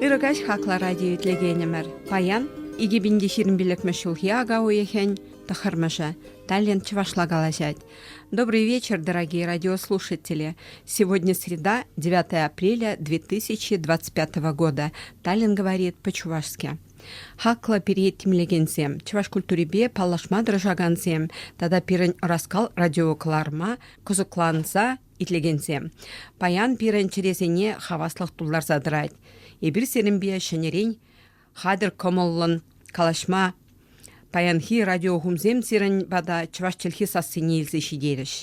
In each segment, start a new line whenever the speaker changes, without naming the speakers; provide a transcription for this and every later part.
Ырӑ каҫ хакла радио итлекенӗмӗр. Паян 2020 ҫулхи ака уйӑхӗн тӑхӑрмӑшӗ. Таллент чӑвашла калаҫать. Добрый вечер, дорогие радиослушатели. Сегодня среда, 9 апреля 2025 года. Таллин говорит по-чувашски. Хаклӑ пире тимлекенсем, чӑваш культурипе паллашма тӑрӑшакансем тата пирӗн ӑраскал радиокӑларӑма кӑсӑкланса итлекенсем, паян пирӗн чӗресене хаваслӑх тултарса тӑрать. Эпир сирӗнпе ҫӗнӗрен хатӗр кӑмӑллӑн калаҫма паянхи радиохумсем сирӗн пата чӑваш чӗлхи сассине илсе ҫитерӗҫ.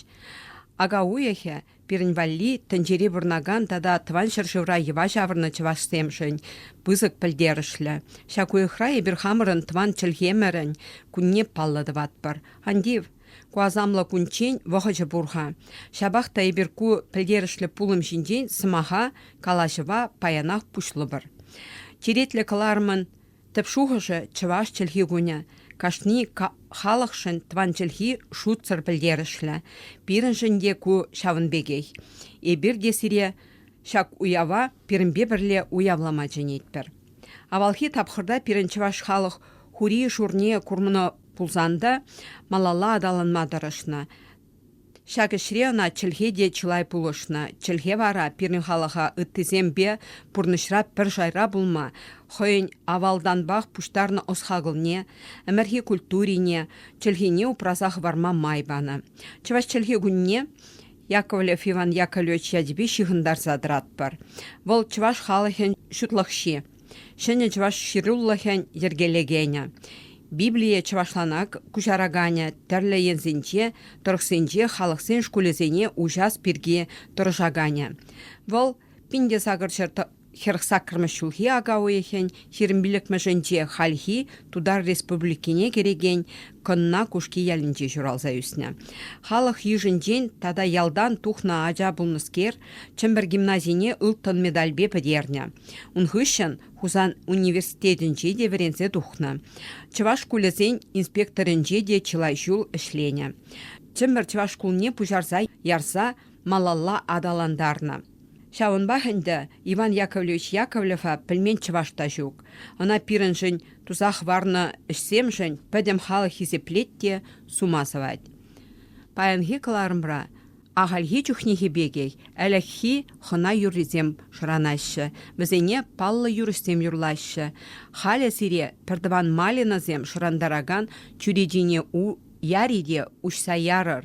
Ака уйӑхӗ Пирӗн валли тӗнчери пурӑнакан тата Тӑван ҫӗршывра йӑва ҫавӑрнӑ чӑвашсемшӗн пысӑк пӗлтерӗшлӗ. Ҫак уйӑхра эпир хамӑрӑн тӑван чӗлхемӗрӗн кунне паллӑ тӑватпӑр. Антив, ку асамлӑ кунччен вӑхӑчӗ пур-ха. Ҫапах та эпир ку пӗлтерӗшлӗ пулӑм ҫинчен сӑмаха, калаҫӑва паянах пуҫлӑпӑр. Черетлӗ кӑларӑмӑн Тӗп шухӑшӗ чӑваш чӗлхи кунӗ. Кашни халӑхшӑн тӑван чӗлхи шутсӑр пӗлтерӗшлӗ. Пирӗншӗн те ку ҫавӑн пекех. Эпир те сире ҫак уява пирӗнпе пӗрле уявлама чӗнетпӗр. Авалхи тапхӑрта пирӗн чӑваш халӑх хури-шурне курнӑ пулсан та малалла аталанма тӑрӑшнӑ. Ҫак ӗҫре ӑна чӗлхе те чылай пулӑшнӑ. Чӗлхе вара пирӗн халӑха ыттисемпе пурнӑҫра пӗр шайра пулма, хӑйӗн авалтанпах пуҫтарнӑ ӑс-хакӑлне, ӗмӗрхи культурине, чӗлхене упраса хӑварма май панӑ. Чӑваш чӗлхи кунне Яковлев Иван Яковлевич ячӗпе ҫыхӑнтарса тӑратпӑр. Вӑл чӑваш халӑхӗн ҫутлӑхҫи. Ҫӗнӗ чӑваш ҫырулӑхӗн йӗркелекенӗ, Библие чӑвашланах куҫараканӗ тӗрлӗ енсенче, тӑрӑхсенче халӑхсен шкулӗсене уҫас пирки тӑрӑшаканӗ. Вӑл пин-те-сакӑрҫӗр хӗрӗх саккӑрмӗш ҫулхи ака уйӑхӗн ҫирӗм пиллӗкмӗшӗнче хальхи Тутар Республикине кӗрекен Кӑнна Кушки ялӗнче ҫуралса ӳснӗ. Халӑх йышӗнчен тата ялтан тухнӑ ача пулнӑскер Чӗмпӗр гимназине ылтӑн медальпе пӗтернӗ. Ун хыҫҫӑн Хусан университетӗнче те вӗренсе тухнӑ. Чӑваш шкулӗсен инспекторӗнче те чылай ҫул ӗҫленӗ. Чӗмпӗр чӑваш шкулне пуҫарса ярса малалла аталантарнӑ. Ҫавӑнпах ӗнтӗ Иван Яковлевич Яковлева пӗлмен чӑваш та ҫук. Ӑна пирӗншӗн, туса хӑварнӑ ӗҫсемшӗн пӗтӗм халӑх хисеплет те сума сӑвать. Паянхи кӑларӑмра ахальхи чухнехи пекех ӗлӗкхи хӑна юррисем шӑранаҫҫӗ, вӗсене паллӑ юрӑҫсем юрлаҫҫӗ. Халӗ сире пӗртӑван малинӑсем шӑрантаракан чӳречине яри те уҫса ярӑр.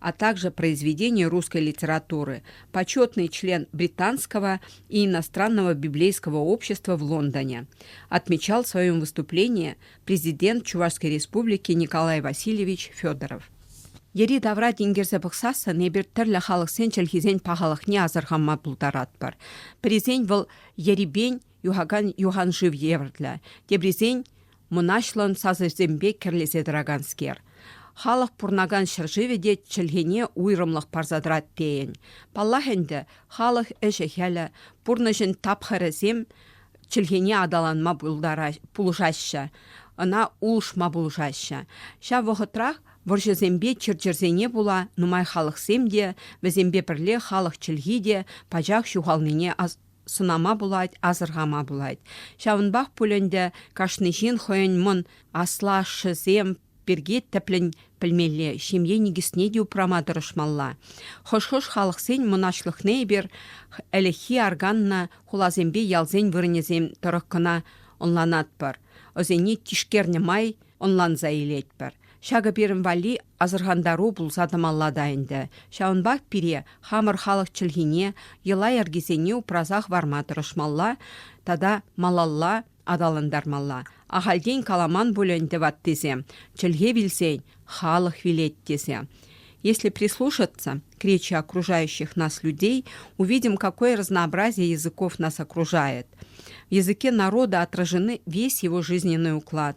а также произведения русской литературы, почетный член Британского и иностранного библейского общества в Лондоне, отмечал в своем выступлении президент Чувашской Республики Николай Васильевич Федоров. Йӗри тавра тинкерсе пӑхсассӑн эпир тӗрлӗ халӑхсен чӗлхисен пахалӑхне асӑрханма пултаратпӑр. Пӗрисен вӑл ерипен юхакан юхан шыв евӗрлӗ, теприсен мӑнаҫлӑн сасӑсемпе кӗрлесе тӑраканскер. Халӑх пурӑнакан ҫӗршывӗ те чӗлхене уйрӑмлӑх парса тӑрать тейӗн. Паллах ӗнтӗ, халӑх ӗҫӗ-хӗлӗ, пурнӑҫӗн тапхӑрӗсем чӗлхене аталанма пулӑшаҫҫӗ, ӑна улӑшма пулӑшаҫҫӗ. Ҫав вӑхӑтрах вӑрҫӑсемпе чир-чӗрсене пула нумай халӑхсем те, вӗсемпе пӗрле халӑх чӗлхи те пачах ҫухалнине сӑнама пулать, асӑрхама пулать. Ҫавӑнпах пуль ӗнтӗ кашни ҫын хӑйӗн мӑн аслашшӗсем пирки тӗплӗн пӗлмелле, ҫемье никӗсне те упрама тӑрӑшмалла. Хӑш-хӑш халӑхсен мӑнаҫлӑхне эпир ӗлӗкхи арканнӑ хуласемпе ялсен вырӑнӗсем тӑрӑх кӑна ӑнланатпӑр, ӑсене тишкернӗ май ӑнланса илетпӗр. Ҫакӑ пирӗн валли асӑрхантару пулса тӑмалла та ӗнтӗ. Ҫавӑнпах пире хамӑр халӑх чӗлхине, йӑла-йӗркисене упраса хӑварма тӑрӑшмалла тата малалла аталантармалла. Ахальтен каламан пулӗ ӗнтӗ ваттисем, чӗлхе вилсен халӑх вилет тесе. Если прислушаться к речи окружающих нас людей, увидим, какое разнообразие языков нас окружает. В языке народа отражены весь его жизненный уклад,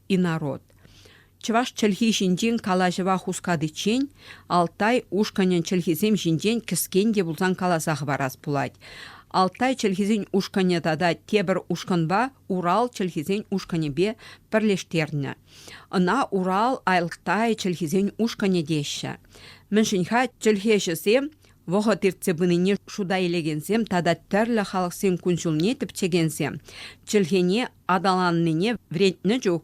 инород. Чӑваш чӗлхи ҫинчен калаҫӑва хускатиччен Алтай ушкӑнӗн чӗлхисем ҫинчен кӗскен те пулсан каласа хӑварас пулать. Алтай чӗлхисен ушкӑнӗ тата тепӗр ушкӑнпа Урал чӗлхисен ушкӑнӗпе пӗрлештернӗ. Ӑна Урал Алтай чӗлхисен ушкӑнӗ теҫҫӗ. Мӗншӗн-ха чӗлхеҫӗсем вӑхӑт иртсе пынине шута илекенсем тата тӗрлӗ халӑхсен кун-ҫулне тӗпчекенсем чӗлхене аталаннине вӗрентнӗ чух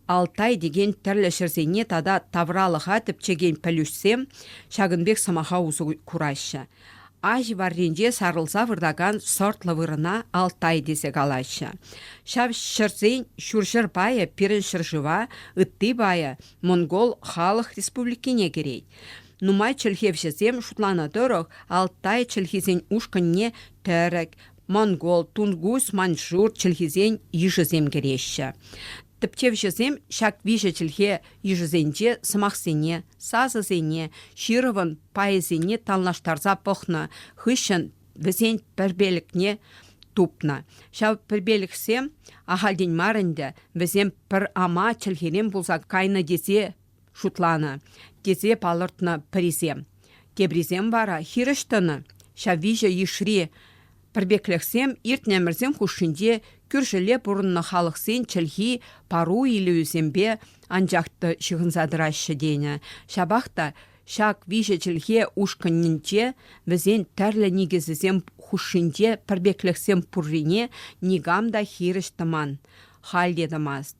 Алтай текен тӗрлӗ ҫӗрсене тата тавралӑха тӗпчекен пӗлӳҫсем ҫакӑн пек сӑмаха усӑ кураҫҫӗ. Аҫ варринче сарӑлса выртакан сортлӑ вырӑна Алтай тесе калаҫҫӗ. Ҫав ҫӗрсен ҫурҫӗр пайӗ пирӗн ҫӗршыва, ытти пайӗ монгол халӑх республикине кӗрет. Нумай чӗлхевҫӗсем шутланӑ тӑрӑх Алтай чӗлхисен ушкӑнне тӗрӗк, монгол, тунгус, маньчжур чӗлхисен йышӗсем кӗреҫҫӗ. Тӗпчевҫӗсем ҫак виҫӗ чӗлхе йышӗсенче сӑмахсене, сасӑсене, ҫырӑвӑн пайӗсене танлаштарса пӑхнӑ хыҫҫӑн вӗсен пӗрпелӗкне тупнӑ. Ҫав пӗрпелӗхсем ахальтен мар ӗнтӗ вӗсем пӗр ама чӗлхерен пулса кайнӑ тесе шутланӑ, тесе палӑртнӑ пӗрисем. Теприсем вара хирӗҫ тӑнӑ. Ҫав виҫӗ йышри пӗрпеклӗхсем иртнӗ хушшинче кӳршӗлле пурӑннӑ халӑхсен чӗлхи пару илӗвӗсемпе анчах та ҫыхӑнса тӑраҫҫӗ тенӗ. Ҫапах та ҫак виҫӗ чӗлхе ушкӑнӗнче вӗсен тӗрлӗ никӗсӗсем хушшинче пӗрпеклӗхсем пуррине никам та хирӗҫ тӑман, халь те тӑмасть.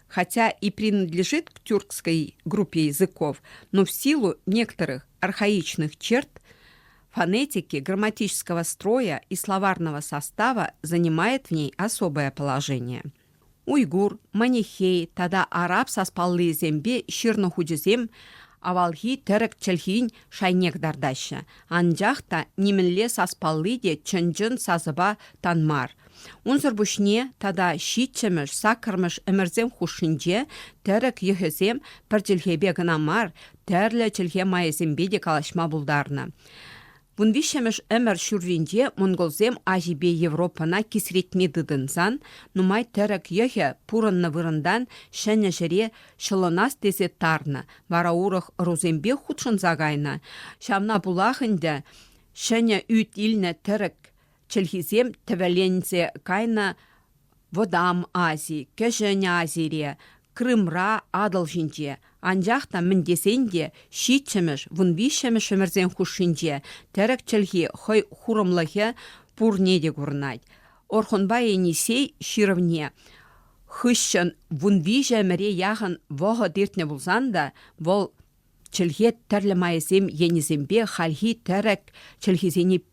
Хотя и принадлежит к тюркской группе языков, но в силу некоторых архаичных черт фонетики, грамматического строя и словарного состава занимает в ней особое положение. Уйгур, манихей тата араб саспаллисемпе ҫырнӑ хучӗсем авалхи тӗрӗк чӗлхин шайнех тартаҫҫӗ. Анчах та нимӗнле саспалли те чӑн-чӑн сасӑпа тан мар – Унсӑр пуҫне тата ҫиччӗмӗш, саккӑрмӗш ӗмӗрсем хушшинче тӗрӗк йӑхӗсем пӗр чӗлхепе кӑна мар, тӗрлӗ чӗлхе майӗсемпе те калаҫма пултарнӑ. Вун виҫҫӗмӗш ӗмӗр ҫурринче монголсем Аҫипе Европӑна кисретме тытӑнсан нумай тӗрӗк йӑхӗ пурӑннӑ вырӑнтан ҫӗнӗ ҫӗре ҫӑлӑнас тесе тарнӑ, вара урӑх ӑрусемпе хутшӑнса кайнӑ. Ҫавна пулах ӗнтӗ ҫӗнӗ ӳт илнӗ тӗрӗк чӗлхисем тӗвӗленсе кайнӑ Вӑтам Ази, Кӗҫӗн Азире, Крымра, Атӑл ҫинче, анчах та мӗн тесен те ҫиччӗмӗш, вунвиҫҫӗмӗш ҫӗмӗрсен хушшинче тӗрӗк чӗлхи хӑй хурӑмлӑхӗ пурне те курӑнать. Орхунпа Енисей ҫырӑвне хыҫҫӑн вунвиҫӗ ӗмӗре яхӑн вӑхӑт иртнӗ пулсан та вӑл чӗлхе тӗрлӗ майӗсем енӗсемпе хальхи тӗрӗк чӗлхисене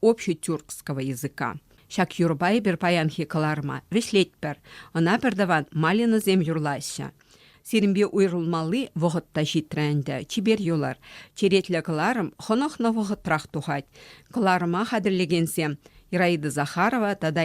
общетюркского языка. Ҫак юрӑпа эпир паянхи кӑларӑма вӗҫлетпӗр. Ӑна пӗртӑван Малинӑсем юрлаҫҫӗ. Сирӗнпе уйрӑлмалли вӑхӑт та ҫитрӗ ӗнтӗ, чипер юлар. Черетлӗ кӑларӑм хӑнӑхнӑ вӑхӑтрах тухать. Кӑларӑма хатӗрлекенсем Ираида Захарова тата